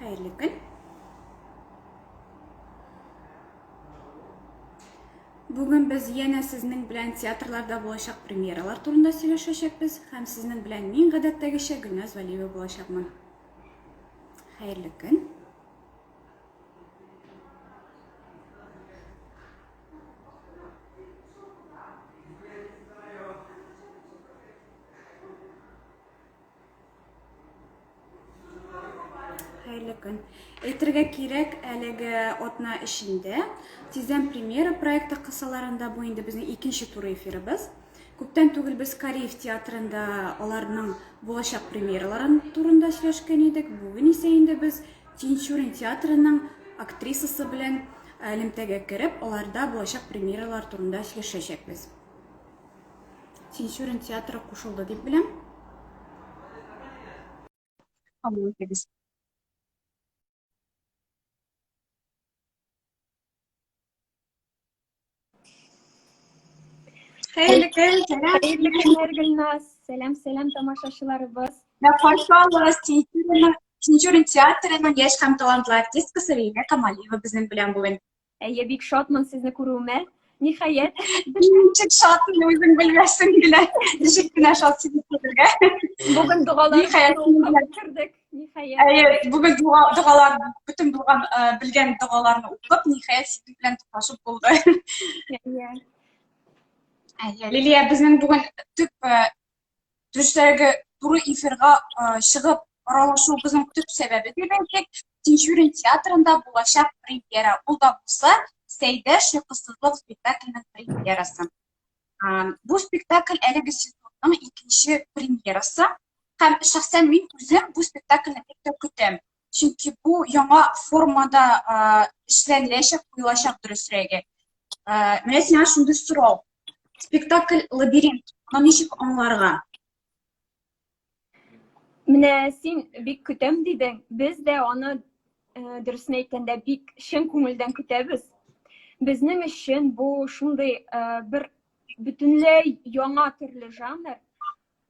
Хәерле көн. Бүген без яна сезнең белән театрларда булачак премьералар турында сөйләшәчәкбез һәм сезнең белән мин гадәттәгечә Гөлназ Вәлиева булачакмын. Хәерле көн. Хәерле көн. Әйтергә кирәк, әлеге атна эчендә Тиздән премьера проекты кысаларында бу инде безнең икенче тур эфирыбыз. Күптән түгел без Кариев театрында аларның булачак премьераларын турында сөйләшкән идек. Бүген исә инде без Тинчурин театрының актрисасы белән элемтәгә кереп, аларда булачак премьералар турында сөйләшәчәкбез. Тинчурин театры кушылды дип беләм. Кабул итегез. Хәерле көн, сәлам. Хәерле көннәр, Гөлназ. Сәлам, сәлам, тамашачыларыбыз. Да, хош аллас, Тинчурин театрының яшь һәм талантлы артисткасы Лилия Камалиева безнең белән бүген. Әйе, бик шатмын сезне күрүемә. Ниһаять. Ничек шатмын үзең белмәсең генә. Ничек кенә шат сине күрергә. Бүген догала кердек. Ниһаять. Әйе, бүген догалар, бөтен булган белгән догаларны укып, ниһаять синең белән туплашып булды. Әйе. Әйе, Лилия, безнең бүген төп төштәге туры эфирга чыгып аралашуыбызның төп сәбәбе дип әйтик, Тинчурин театрында булачак премьера. Ул да булса Сәйдә шыкысызлык спектакленең премьерасы. Бу спектакль әлеге сезонның икенче премьерасы. Һәм шәхсән мин үзем бу спектакльне бик тә көтәм. Чөнки бу яңа формада эшләнеләчәк, куелачак дөресрәге. Менә сиңа шундый сорау. Спектакль лабиринт. Аны ничек аңларга? Менә син бик көтәм дидең. Без дә аны дөресен әйткәндә бик чын күңелдән көтәбез. Безнең өчен бу шундый бер бөтенләй яңа төрле жанр,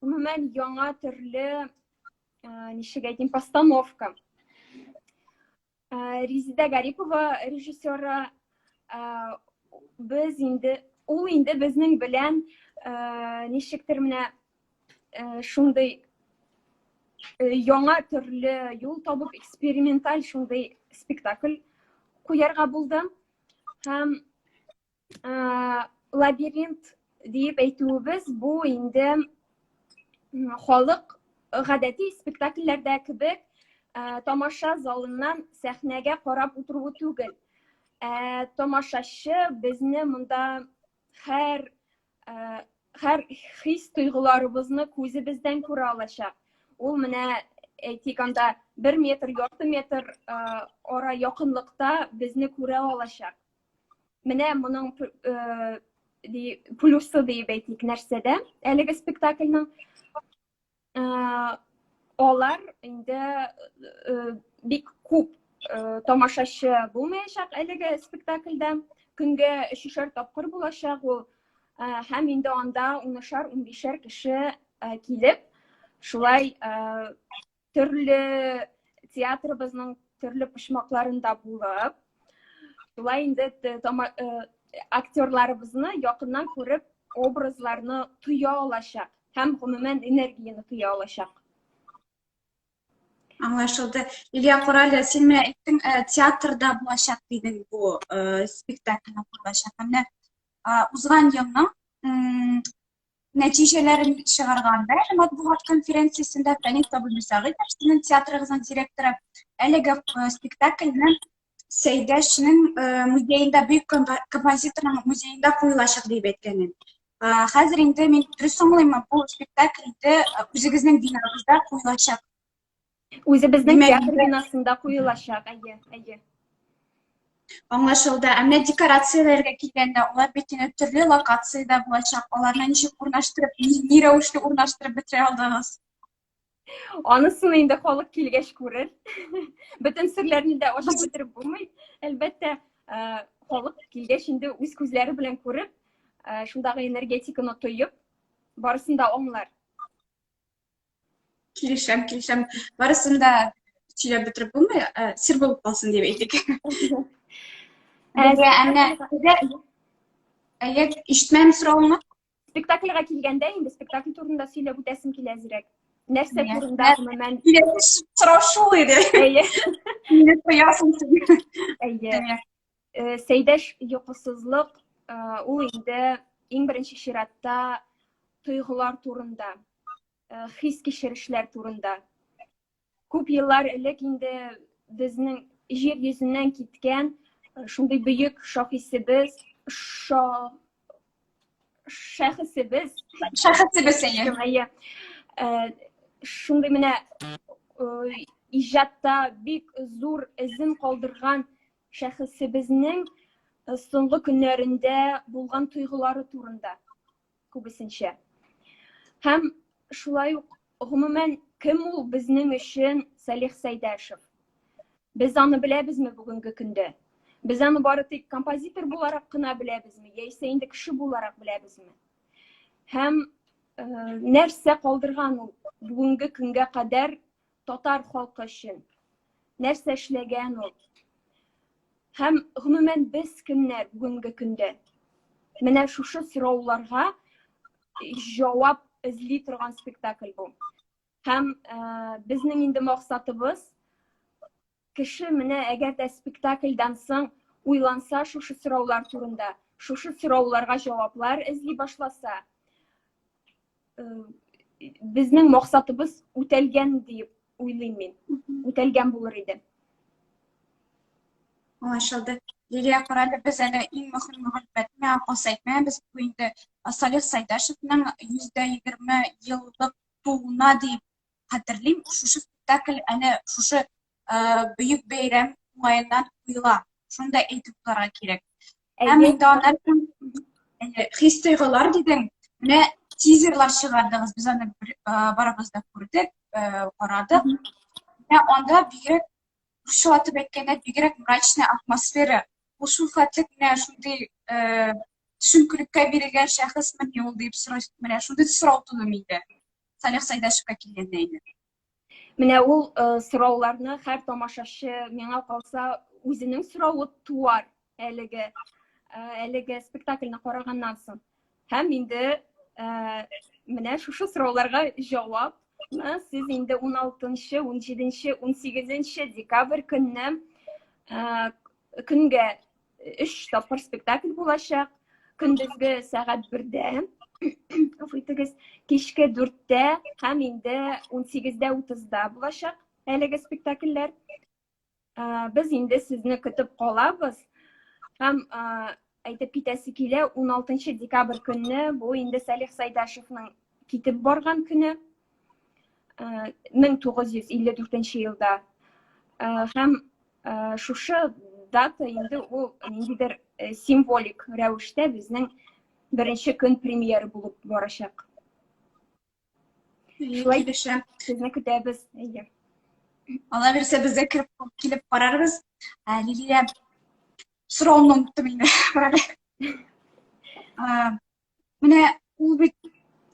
гомумән яңа төрле ничек әйтим постановка резида гарипова режиссеры без инде ул инде безнең белән ничектер менә шундый яңа төрле юл табып эксперименталь шундый спектакль куярга булды һәм лабиринт диеп әйтүебез бу инде халык гадәти спектакльләрдә кебек тамаша залыннан сәхнәгә карап утыруы түгел ә тамашачы безне монда һәр һәр хис тойгыларыбызны күзебездән күрә алачак ул менә әйтик анда бер метр ярты метр ара якынлыкта безне күрә алачак Менә моның э, ди, плюсы диеп әйтик нәрсәдә әлеге спектакльның э, алар инде э, бик күп э, тамашачы булмаячак әлеге спектакльдә көнгә өчешәр тапкыр булачак ул э, һәм инде анда унышар унбишәр кеше э, килеп шулай э, Төрле театрыбызның төрле почмакларында булып, шулай инде актерларыбызны якыннан күреп, образларны тоя алачак һәм гомумән энергияне тоя алачак. Аңлашылды. Илья Корале, син менә әйттең, театрда булачак дидең бу спектакль булачак. Менә узган елның нәтиҗәләрен чыгарган да әле матбугат конференциясендә Фәнис Абдулсагыйтов сезнең театрыгызның директоры әлеге э, спектакльне Сәйдәшнең э, музеенда бөек композиторның музеенда куелачак дип әйткән иде. Э, хәзер инде мин дөрес аңлыйммы, бу спектакль инде үзегезнең бинагызда куелачак Үзебезнең Димәк, театр бинасында куелачак, әйе, әйе. Аңлашылды. Ә менә декорацияләргә килгәндә, алар бит инде төрле локациядә булачак. Аларны ничек урнаштырып, ни, ни рәвешле урнаштырып бетерә алдыгыз? Анысын инде халык килгәч күрер. Бөтен серләрне дә ачып бетереп булмый. Әлбәттә, э, халык килгәч инде үз күзләре белән күреп, э, шундагы энергетиканы тоеп, барысын да аңлар. Килешәм, килешәм. Барысын да сөйләп бетереп булмый, ә, сер булып калсын дип әйтик. Әйе, әмма әйе, ишетмәм соравыңны. Спектакльгә килгәндә инде спектакль турында сөйләп үтәсем килә әзрәк. Нәрсә Әйе. турында гомумән? Киләсе сорау шул иде. Әйе. Мине тоясың син. Әйе. Әйе. Э, сәйдәш йокысызлык э, ул инде иң беренче чиратта тойгылар турында э, хис кичерешләр турында күп еллар элек инде безнең җир йөзеннән киткән шундый бөек шахисебез ша шәхесебез шәхесебез әйе шундый менә иҗатта бик зур эзен калдырган Шәхесебезнең соңгы көннәрендә булган тойгылары турында күбесенчә. Һәм шулай ук гомумән кем ул безнең өчен Салих Сәйдәшев? Без аны беләбезме бүгенге көндә? Без аны бары тик композитор буларак кына беләбезме, яисә инде кеше буларак беләбезме? Һәм нәрсә калдырган ул бүгенге көнгә кадәр татар халкы өчен нәрсә эшләгән ул һәм гомумән без кемнәр бүгенге көндә менә шушы сорауларга җавап эзли торган спектакль бу һәм ә, безнең инде максатыбыз Кеше менә әгәр дә спектакльдан соң уйланса шушы сораулар турында, шушы сорауларга җаваплар эзли башласа, безнең максатыбыз үтәлгән диеп уйлыйм мин. Үтәлгән булыр иде. Аңлашылды. Лилия Корале, без әле иң мөһим мәгълүматны акылса әйтмәбез. Бу инде Салих Сайдашевның 120 еллык тууына дип хәтерлим, шушы спектакль әнә шушы бөек бәйрәм уңаеннан куела. Шуны да әйтеп торырга кирәк. Һәм инде аннан соң хис тойгылар дидең. Менә тизерлар чыгардыгыз. Без аны барыбыз да күрдек, карадык. Менә анда бигрәк русчалатып әйткәндә бигрәк мрачная атмосфера. Ул шул хәтлек менә шундый төшенкелеккә бирелгән шәхесме ул дип сораш, менә шундый сорау туды миндә. Салих Сайдашевка килгәндә инде. Менә ул сорауларны һәр тамашачы миңа калса үзенең соравы туар әлеге әлеге спектакльне караганнан соң. Һәм инде менә шушы сорауларга җавапны сез инде 16-нчы, 17-нче, 18-нче декабрь көнне көнгә өч тапкыр спектакль булачак көндезге сәгать бердә гафу итегез кичке дүрттә һәм инде ун сигездә утызда булачак әлеге спектакльләр без инде сезне көтеп калабыз һәм әйтеп китәсе килә 16 декабрь көнне бу инде сәлих сәйдәшевның китеп барган көне мең тугыз йөз илле дүртенче елда һәм шушы дата инде ул ниндидер символик рәвештә безнең беренче көн премьера булып барачак шулай дешә сезне көтәбез әйе алла бирсә без дә килеп карарбыз лилия сорауымны оныттым инде Менә ул бит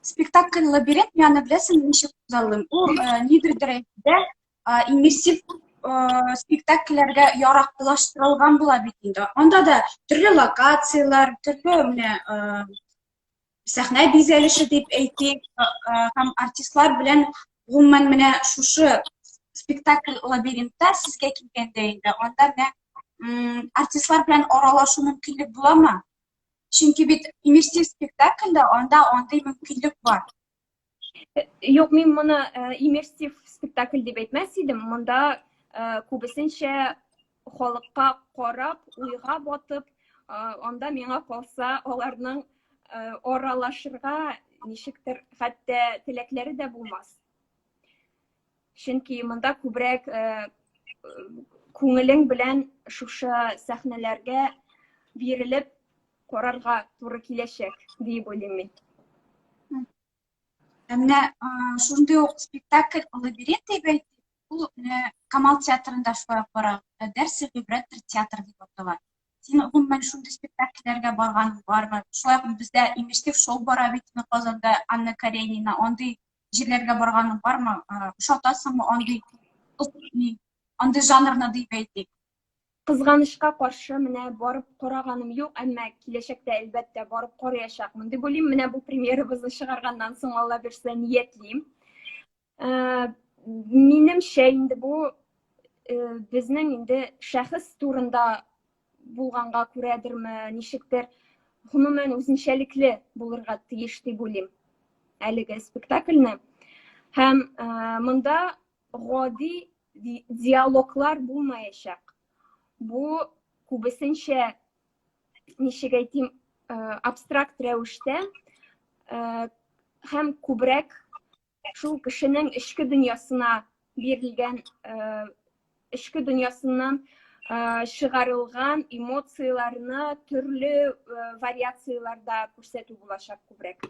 спектакль лабиринт яны беләсең ничек күзаллыйм ул э, нидер дәрәҗәдә э, иммерсив э, спектакльләргә яраклаштырылган була бит инде анда да төрле локацияләр төрле менә сәхнә бизәлеше дип әйтик һәм артистлар белән гомумән менә шушы спектакль лабиринтта сезгә килгәндә инде анда менә артистлар белән аралашу мөмкинлек буламы Чөнки бит иммерсив спектакльдә анда андый мөмкинлек бар. Юк, мин моны иммерсив спектакль дип әйтмәс идем. Монда күбесенчә халыкка карап, уйга батып, анда миңа калса аларның аралашырга ничектер хәтта теләкләре дә булмас. чөнки монда күбрәк күңелең белән шушы сәхнәләргә бирелеп карарга туры киләчәк диеп уйлыйм мин ә менә шундый ук спектакль лабиринт дип әйтик ул менә камал театрында шулай ук бара дәрсе гибрәттер театр дип атала син гомумән шундый спектакльләргә барган бармы шулай ук бездә имештив шоу бара бит казанда анна каренина андый җирләргә барганың бармы? Ошатасыңмы андый андый жанрны дип әйтик? Кызганычка каршы, менә барып караганым юк, әмма киләчәктә әлбәттә барып караячакмын дип уйлыйм. Менә бу премьерабызны чыгарганнан соң Алла бирсә ниятлим. Э, минемчә инде бу э, безнең инде шәхес турында булганга күрәдерме, ничектер, гомумән үзенчәлекле булырга тиеш дип уйлыйм әлеге спектакльне. Һәм ә, монда гади диалоглар булмаячак. Бу күбесенчә ничек әйтим, абстракт рәвештә һәм күбрәк Шул кешенең эчке дөньясына бирелгән эчке э, дөньясыннан э, чыгарылган эмоцияләрне төрле э, вариацияләрдә күрсәтү булачак күбрәк.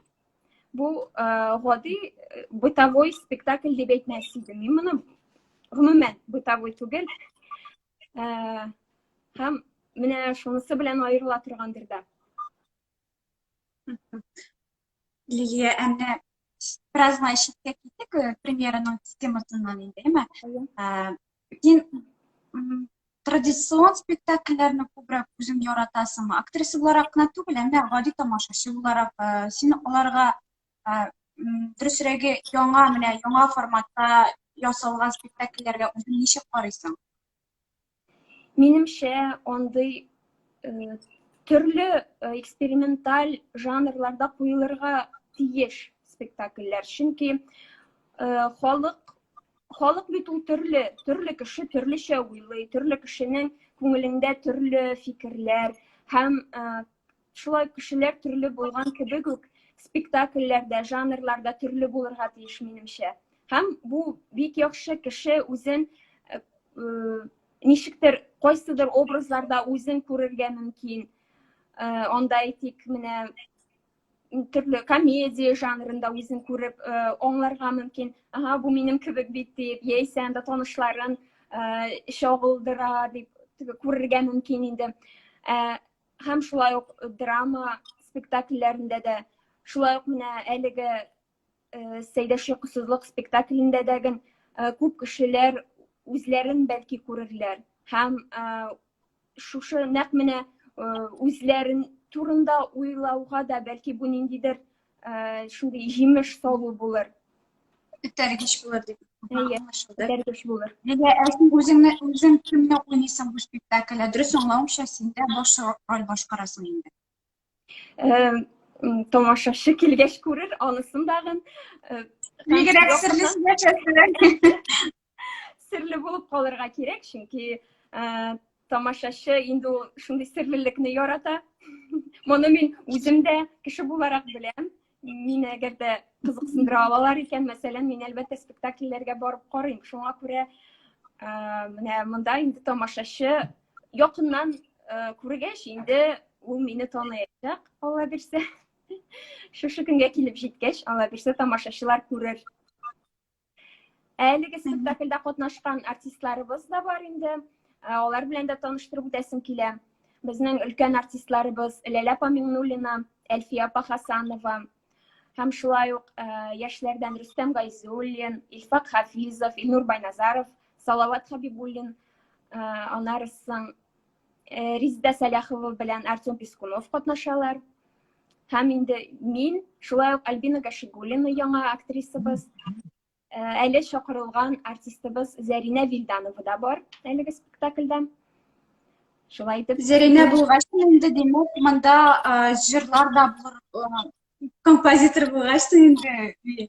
Бу гади бытовой спектакль дип әйтмәс идем. Мин моны гомумән бытовой түгел. Һәм менә шунысы белән аерыла торгандыр да. Лилия, әнә бераз гына читкә киттек, э, премьераның темасыннан инде, әмма э, син традицион спектакльләрне күбрәк үзең яратасыңмы? Актриса буларак кына түгел, әмма гади тамашачы буларак э, син аларга дөресрәге яңа менә яңа форматта ясалган спектакльләргә үзең ничек карыйсың? Минемчә, андый э, төрле э, эксперименталь жанрларда куелырга тиеш спектакльләр. Чөнки э, халык халык бит ул төрле, төрле кеше төрлечә уйлый, төрле кешенең күңелендә төрле фикерләр һәм э, Шулай кешеләр төрле булган кебек үк, спектакльләр дә, жанрлар да төрле булырга тиеш, минемчә. Һәм бу бик яхшы кеше үзен э, э, ничектер кайсыдыр образларда үзен күрергә мөмкин. Э, анда әйтик, менә төрле комедия жанрында үзен күреп аңларга мөмкин. Ага, бу минем кебек бит дип, яисә анда танышларын чагылдыра дип күрергә мөмкин инде. һәм шулай ук драма спектакльләрендә дә шулай ук менә әлеге э, сәйдә шыксызлык спектаклендә дә э, күп кешеләр үзләрен бәлки күрерләр һәм э, шушы нәкъ менә үзләрен турында уйлауга да бәлки бу ниндидер шундый җимеш салу булыр этәргеч булыр дип этәргеч булыр әйе ә син үзеңне үзең кемне уйныйсың бу спектакльдә дөрес аңлавымча син дә баш роль башкарасың инде тамашачы килгәч күрер анысын дагын бигрәк серле сөйләшәсең серле булып калырга кирәк чөнки тамашачы инде ул шундый серлелекне ярата моны мин үзем дә кеше буларак беләм мин әгәр дә кызыксындыра алалар икән мәсәлән мин әлбәттә спектакльләргә барып карыйм шуңа күрә менә монда инде тамашачы якыннан күргәч инде ул мине таныячак алла бирсә шушы көнгә килеп җиткәч алла бирсә тамашачылар күрер Әлеге спектакльдә катнашкан артистларыбыз да бар инде. Ә, алар белән дә таныштырып үтәсем килә. Безнең өлкән артистларыбыз Ләлә апа Миңнуллина, Әлфия апа Хасанова һәм шулай ук ә, яшьләрдән Рөстәм Гайзуллин, Илфак Хафизов, Илнур Байназаров, Салават Хабибуллин, ә, аннары соң Э, Резида Сәләхова белән Артем Пискунов катнашалар. Һәм инде мин, шулай ук Альбина Гашигулина яңа актрисабыз, э, әле чакырылган артистыбыз Зәринә Вильданова да бар әлеге спектакльдә. Шулай итеп. Зәринә булгач, инде димәк, монда э, җырлар да булыр, композитор булгач, инде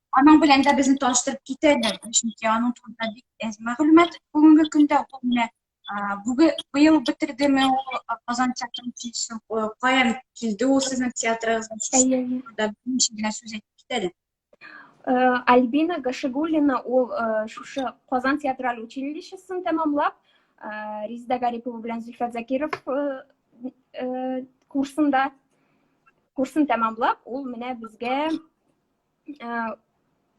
Аның белән дә безне таныштырып китәләр, чөнки аның турында бик әз мәгълүмат бүгенге көндә ул менә бүген быел бетердеме ул Казан театрын килсен, каян килде ул сезнең театрыгызда беренче генә сүз әйтеп китәләр. Альбина Гашигуллина ул шушы Казан театраль училищесын тәмамлап, Резеда Гарипова белән Зөлфәт Закиров курсында курсын тәмамлап, ул менә безгә ә,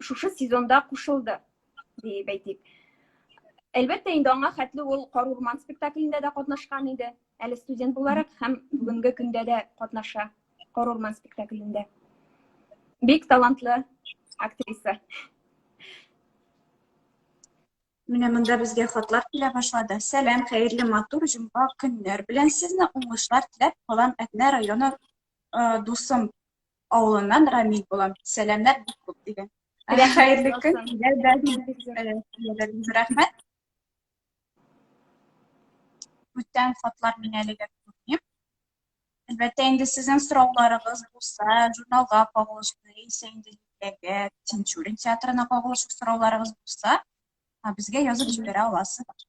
шушы сезонда кушылды диеп әйтик әлбәттә инде аңа хәтле ул кар урман спектаклендә дә катнашкан иде әле студент буларак һәм бүгенге көндә дә катнаша кар урман спектаклендә бик талантлы актриса менә монда безгә хатлар килә башлады сәлам хәерле матур җомга көннәр белән сезне уңышлар теләп калам әтнә районы дусым Авылыннан Рамил булам. Сәламнәр бик күп дигән. Әле хәерле көн. Рәхмәт. Бүтән хатлар мин әлегә күрмим. Әлбәттә, инде сезнең сорауларыгыз булса, журналга кагылышлы, яисә инде Тинчурин театрына кагылышлы сорауларыгыз булса, Ә безгә язып җибәрә аласыз.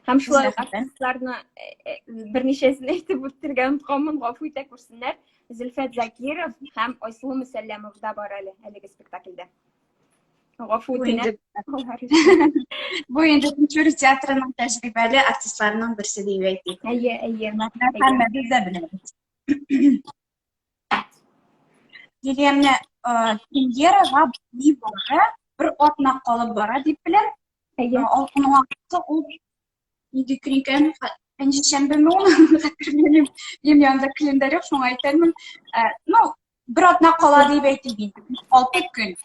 Һәм шулай артистларны э, э, берничәсен әйтеп үтергә онытканмын, гафу итә күрсеннәр. Зөлфәт Закиров һәм Айсылу Мөсәлләмов да бар әле әлеге спектакльдә. Гафу үтенәм. Бу инде Көнчүр театрының тәҗрибәле артистларының берсе дип әйтик. Әйе, әйе. Һәммәбез дә беләбез. дигәнне премьера га ни бары бер атна калып бара дип беләм. Әйе. Алкынлакта ул нинди көн икән, пәнҗешәмбеме ул, хәтерләмим. Минем янымда календарь юк, шуңа әйтәлмим. Ну, бер атна кала дип әйтик инде. Алты көн.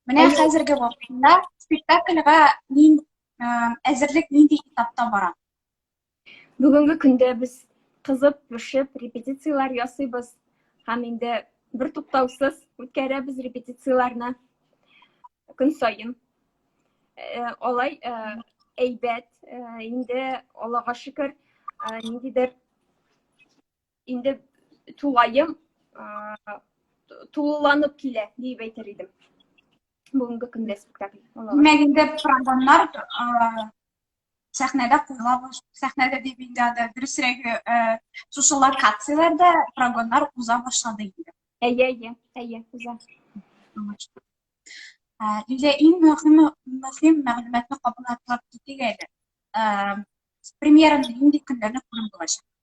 Менә хәзерге вакытта спектакльга мин әзерлек нинди этапта бара? Бүгенге көндә без кызып, пешеп, репетицияләр ясыйбыз һәм инде бер туктаусыз үткәрәбез репетицияләрне көн саен. Э, алай э, әйбәт, э, инде Аллага шөкер, ниндидер инде тулаем тулыланып килә дип әйтер идем. Бүгенге көндә спектакль. Димәк, инде програмнар сәхнәдә куела башлый. Сәхнәдә дип инде анда дөресрәге, э, шушы локацияләрдә прогоннар уза башлады инде. Әйе, әйе, әйе, уза. Лилия, э, иң мөһим, мөһим мәгълүматны кабул атлап китик әле. Э, премьераны нинди көннәрне күреп булачак?